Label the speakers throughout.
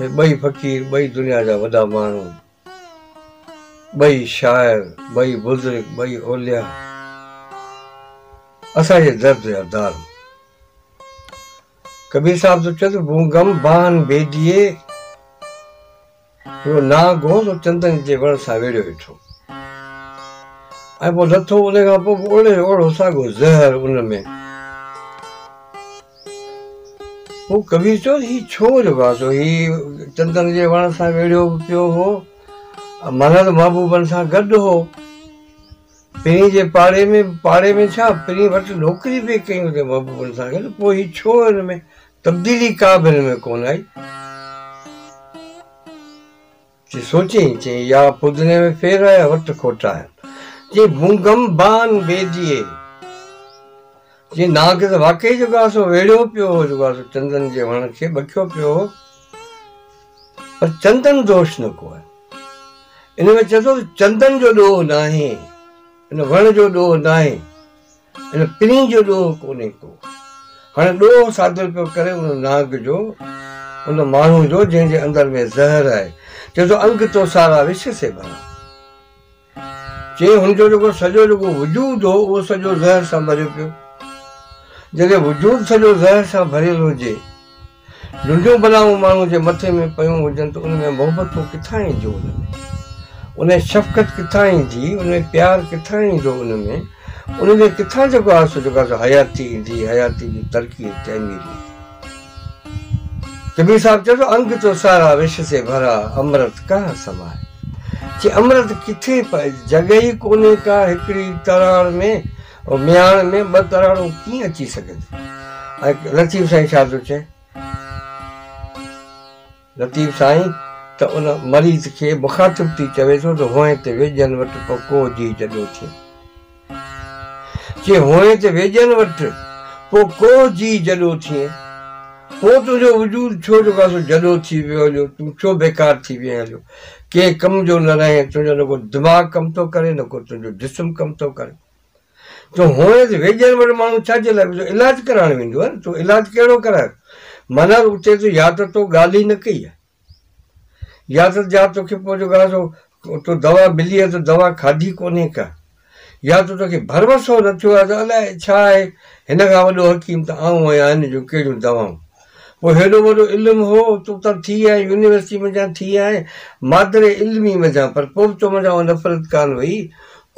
Speaker 1: هي ٻئي فقير ٻئي دنيا جا وڏا ماڻهو، ٻئي شاعر، ٻئي بزرگ، ٻئي اولياء اسان جي درد جا دارو. ڪبير صاحب ٿو چوي ته بون غم بانهن بيديي، هيو ناهه گهو سو چندن جي وڻ سان ويڙهيو ويٺو. ۽ پوء لٿو ان کان پوء به اوڙي جو اوڙو ساڳيو زهر ان ۾. هو ڪبير چيو ته هي ڇو جو گادو هي چندن جي وڻ سان ويڙهيو به پيو هو ۽ ملهل محبوبن سان گڏ هو. پرين جي پاڙي ۾ به پاڙي ۾ ڇا پرين وٽ نوڪري به ڪئي هوندي محبوبن سان گڏ پوء هي ڇو هن ۾ تبديلي ڪا به هن ۾ ڪونه آئي. چي سوچين چي يا پودني ۾ ڦير آهي وٽ کوٽا آهن چي بونگم بان بيديي چي ناگ ته واقعي جيڪو آهي سو ويڙهيو پيو هو جيڪو آهي سو چندن جي وڻ کي ٻکيو پيو هو پر چندن دوش نه ڪو آهي ان ۾ چئي ٿو ته چندن جو ڏوهه ناهي ان وڻ جو ڏوهه ناهي هن پرين جو ڏوهه ڪونهي ڪو. هاڻي ڏوهه صادر پيو ڪري ان نانگ جو، ان ماڻهو جو جنهن جي اندر ۾ زهر آهي. چئي ٿو انگ تو سارا وش سي ڀرا. چئي هن جو جيڪو سڄو جيڪو وجود هو اهو سڄو زهر سان ڀريو پيو. جڏهن وجود سڄو زهر سان ڀريل هجي. جنهنجون بلائون ماڻهو جي مٿي ۾ پيون هجن ته ان ۾ محبتون ڪٿان اينديون ان ۾ ان ۾ شفقت ڪٿان ايندي ان ۾ پيار ڪٿان ايندو ان ۾ ان ۾ ڪٿان جيڪو آهي سو جيڪو آهي سو حياتي ايندي حياتي جي ترقي ۽ تعمير ايندي ڪبير صاحب چيو ٿو انگ تو سارا وش سي ڀرا امرت ڪها سمائي چي امرت ڪٿي پئي جڳهه ئي ڪونهي ڪا هڪڙي تراڙ ۾ مياڻ ۾ ٻه ڪراڙو ڪيئن اچي سگهي ٿو؟ ۽ لطيف سائين ڇا ٿو چئي؟ لطيف سائين ته ان مريض کي مخاطب ٿي چوي ٿو ته هونء ته ويڄن وٽ ڪو ڪو جي جڏو ٿئي. چي هونء ته ويڄن وٽ ڪو ڪو جي جڏو ٿئي. پوء تنهنجو وجود ڇو جو ڪا سو جڏو ٿي ويو هليو، تون ڇو بيڪار ٿي ويئين هليو. ڪنهن ڪم جو نه رهين، تنهنجو نه ڪو دماغ ڪم ٿو ڪري نه ڪو تنهنجو جسم ڪم ٿو ڪري. تون هونئن ته ويڄن وٽ ماڻهو ڇا جي لاء ويندو آهي؟ علاج ڪرائڻ ويندو آهي نه، تون علاج ڪهڙو ڪرايو؟ معنيٰ اتي ته يا ته تو ڳالهه ئي نه ڪئي آهي يا ته جا توکي پوء جيڪو آهي سو تو دوا ملي آهي ته دوا کاڌي ڪونهي ڪا. يا ته توکي ڀروسو نه ٿيو آهي ته الاء ڇا آهي، هن کان وڏو حڪيم ته آئون آهيان، هن جون ڪهڙيون دوائون. پوء هيڏو وڏو علم هو، تون ته ٿي آئين، يونيورسٽي منجهان ٿي آئين، مادر علمي منجهان، پر پوء به تو منجهان اها نفرت ڪانه وئي،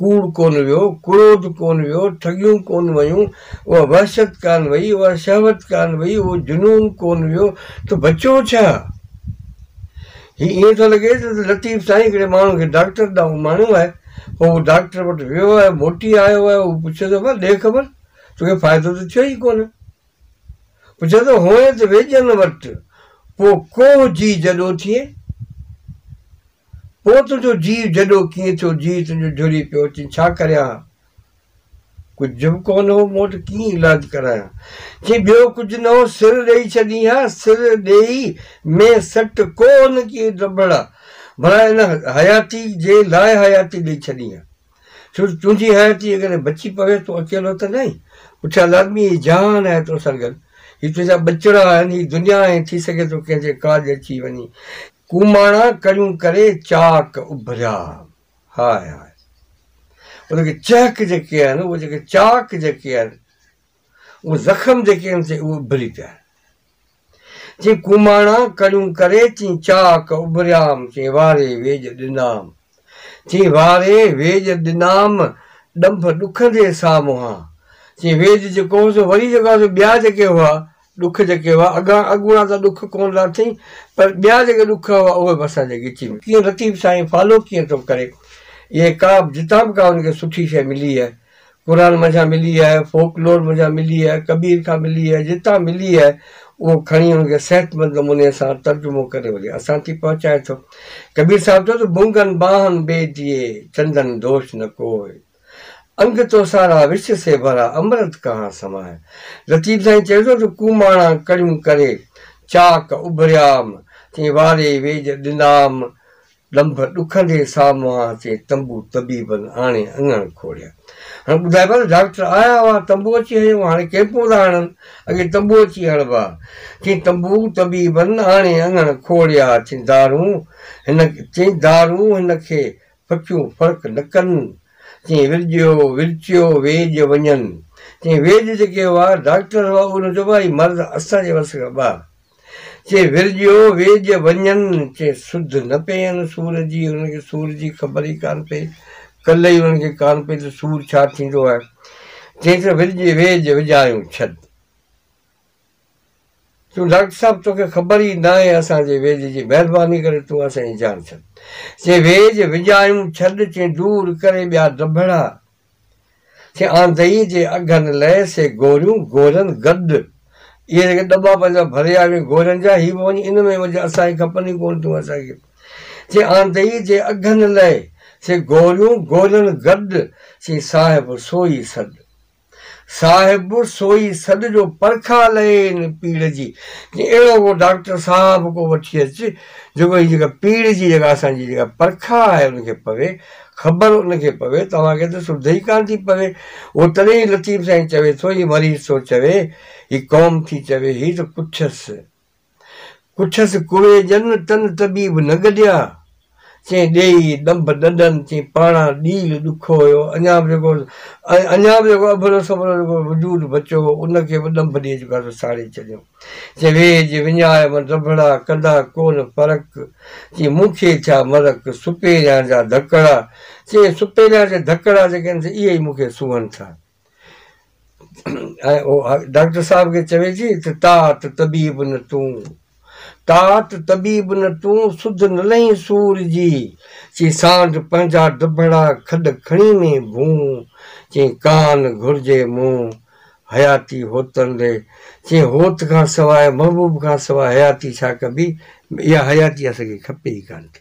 Speaker 1: ڪوڙ ڪونه ويو، ڪروڌ ڪونه ويو، ٺڳيون ڪونه ويون، اها وحشت ڪانه وئي، اها شهوت ڪانه وئي، اهو جنون ڪونه ويو، تو بچو ڇا؟ هي ائين ٿو لڳي ته لطيف سائين هڪڙي ماڻهو کي ڊاڪٽر ڏانهن اماڻيو آهي. پوء هو ڊاڪٽر وٽ ويو آهي، موٽي آيو آهي. هو پڇيو ٿو ڀلا ڏي خبر، توکي فائدو ته ٿيو ئي ڪونه. پڇيو ٿو هونئن ته ويڄن وٽ پوء ڪوهه جيء جڏو ٿئي. پوء تنهنجو جيء جڏو ڪيئن ٿيو، جيء تنهنجو جهري پيو اچين، ڇا ڪريان ها. ڪجهه به ڪونه هو، مون وٽ ڪيئن علاج ڪرايان؟ چيائين، ٻيو ڪجهه نه هو، سر ڏيئي ڇڏين ها، سر ڏيئي ۾ سٽ ڪو نه ڪي ڊڀڙا، ڀلا ان حياتي جي لاء حياتي ڏيئي ڇڏين ها، ڇو جو تنهنجي حياتي اگر بچي پوي، تون اڪيلو ته ناهين، پٺيان لازمي هي جهان آهي تو سان گڏ، هي تنهنجا ٻچڙا آهن، هي دنيا آهي، ٿي سگهي ٿو ڪنهن جي ڪاڄ اچي وڃين. ڪوماڻا ڪڙيون ڪري چاڪ اڀريا. هاء هاء ان کي چهڪ جيڪي آهن اهي جيڪي چاڪ جيڪي آهن اهي زخم جيڪي آهن سي اهي اڀري پيا آهن چي ڪوماڻا ڪڙيون ڪري چي چاڪ اڀريام چي واري ويڄ ڏنام چي واري ويڄ ڏنام ڏنڀ ڏکندي سامهان چي ويڄ جيڪو هو سو وري جيڪو سو ٻيا جيڪي هئا ڏک جيڪي هئا اڳان اڳوڻا ته ڏک ڪونه ٿا اٿين پر ٻيا جيڪي ڏک هئا اهي به اسان جي ڳچي ۾. ڪيئن لطيف سائين فالو ڪيئن ٿو ڪري اهي ڪا به جتان به ڪا هن کي سٺي شيء ملي آهي قرآن منجهان ملي آهي فوڪ لور منجهان ملي آهي ڪبير کان ملي آهي جتان ملي آهي اهو کڻي ان کي صحت مند نموني سان ترجمو ڪري وري اسان تي پهچائي ٿو ڪبير صاحب چيو ته بونگن باهن بي ديئي چندن دوش نه ڪوئي. انگ تو سارا وش سي ڀرا امرت ڪهان سماء. لطيف سائين چيو ٿو ته ڪوماڻا ڪڙيون ڪري چاڪ اڀريام تين واري ويڄ ڏنام ڏنڀ ڏکندي سامهان تين تنبو طبيبن آڻي اڱڻ کوڙيا. هن ٻڌايو پيو ته ڊاڪٽر آيا هئا تنبو اچي هنيو هاڻي ڪيمپون ٿا هڻن اڳي تنبو اچي هڻبا تين تنبو طبيبن آڻي اڱڻ کوڙيا تين دارون هن تين دارون هن کي پکيون فرق نه ڪن، چيئي ورجيو، ورچيو، ويڄ وڃن. چيئي ويڄ جيڪي هئا، ڊاڪٽر هئا، اهي نه چئبا هي مرض اسان جي وس کان ٻاهر. چيئي ورجيو، ويڄ وڃن. چيئي سڌ نه پين سور جي، انهن کي سور جي خبر ئي ڪانه پئي، ڪل ئي انهن کي ڪانه پئي ته سور ڇا ٿيندو آهي. چيئي ته ورجي ويڄ وڄايون ڇڏ. چيو ڊاڪٽر صاحب توکي خبر ئي ناهي اسان جي ويڄ جي مهرباني ڪري تون اسان جي جان ڇڏ چي ويڄ وڄايون ڇڏ چي دور ڪري ٻيا دٻڙا چي آندئي جي اگهن لئه سي گوريون گورن گڏ اهي جيڪي دٻا پنهنجا ڀريا وين گورن جا هي به وڃي ان ۾ وجهه اسان کي کپن ئي ڪون تون اسان کي چي آندئي جي اگهن لئه سي گوريون گورن گڏ چي صاحب سوئي سڏ صاحب سوئي سڏ جو پرکاء لئي ان پيڙهه جي جي اهڙو ڪو ڊاڪٽر صاحب ڪو وٺي اچ جيڪو هي جيڪا پيڙهه جي جيڪا اسان جي جيڪا پرکاء آهي ان کي پوي خبر ان کي پوي توهان کي ته سڌ ئي ڪانه ٿي پوي اهو تڏهن ئي لطيف سائين چوي ٿو هي مريض ٿو چوي هي قوم ٿي چوي هي ته ڪڇس پڇس ڪوئي ڄن تن طبيب نه گڏيا، چين ڏيئي ڏنڀ ڏنڊن چين پاڻا ڏيل ڏکو هيو، اڃا به جيڪو اڃا به جيڪو اڀرو سڀرو جيڪو وجود بچو هو، ان کي به ڏنڀ ڏيئي جيڪو آهي سو ساڙي ڇڏيو. چين ويڄ وڃائي من رڀڙا، ڪندا ڪون فرق، چين مون کي ڇا مرڪ، سپهريان جا ڌڪڙا، چين سپهريان جا ڌڪڙا جيڪي آهن سي اهي ئي مون کي سونهن ٿا. ۽ ڊاڪٽر صاحب کي چويجي ته طاعت طبيب نه تون طاعت طبيب نه تون سڌ نه لهين سور جي چي سانڍ پنهنجا دبڙا کڏ کڻي ۾ ڀون چي ڪان گهرجي مون حياتي هوتن ڏي چي هوت کان سواء محبوب کان سواء حياتي ڇا ڪبي اها حياتي اسان کي کپي ئي ڪانه ٿي